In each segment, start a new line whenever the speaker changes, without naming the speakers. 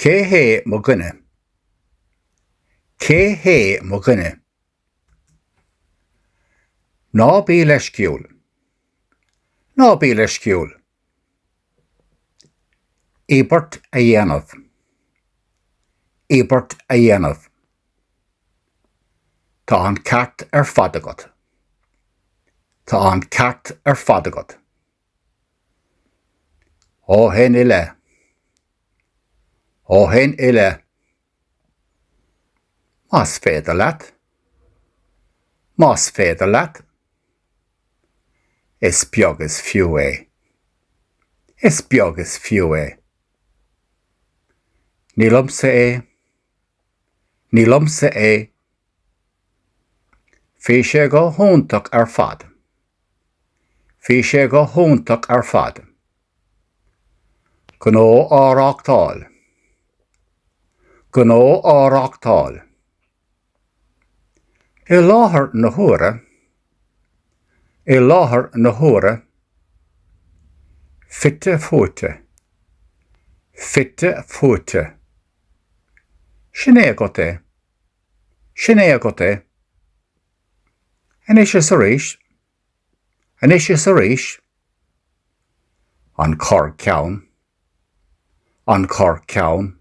Cé hé mo dhuine? Cé hé mo dhuine? Ná bí leisciúil! Ná bí leisciúil! Íobairt a dhéanamh! Íobairt a dhéanamh! Tá an ceart ar fad agat. Tá an ceart ar fad agat. Ó shin i leith. Ó shin i leith. Más féidir leat. Más féidir leat. Is beag is fiú é. Is beag is fiú é. Ní liomsa é. Ní liomsa é. Bhí sé go hiontach ar fad. Bhí sé go hiontach ar fad. Gnó á reáchtáil. Gnó á reáchtáil. I láthair na huaire. I láthair na huaire. Fite fuaite. Fite fuaite. Sin é agat é. Sin é agat é. Anois is arís. Anois is arís. An corrcheann. An corrcheann.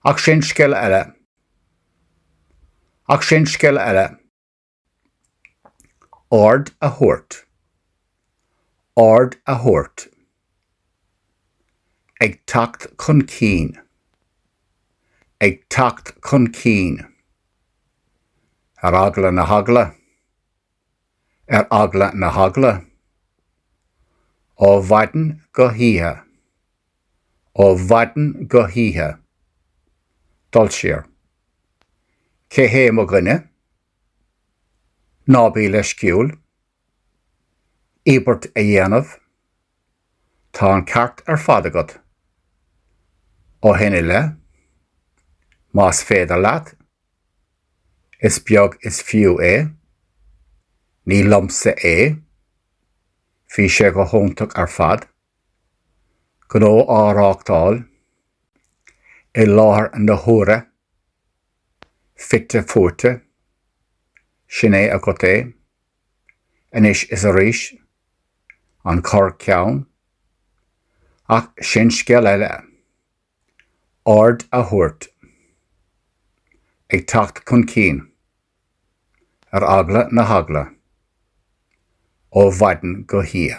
Ach sin scéal eile. Ach sin scéal eile. Aird a thabhairt. Aird a thabhairt. Ag teacht chun cinn. Ag teacht chun cinn. Ar eagla na heagla. Ar eagla na heagla. Ó mhaidin go hoíche. Ó mhaidin go hoíche. Dul siar. Cé hé mo dhuine? Ná bí leisciúil. Íobairt a dhéanamh. Tá an ceart ar fad agat. Ó shin i leith. Más féidir leat. Is beag is fiú é. Ní liomsa é. Bhí sé go hiontach ar fad. gnó á reáchtáil i láthair na huaire, fite fuaite, sin é agat é, anois is arís, an corr-cheann, ach sin scéal eile. aird a thabhairt, ag teacht chun cinn, ar eagla na heagla, ó mhaidin go hoíche.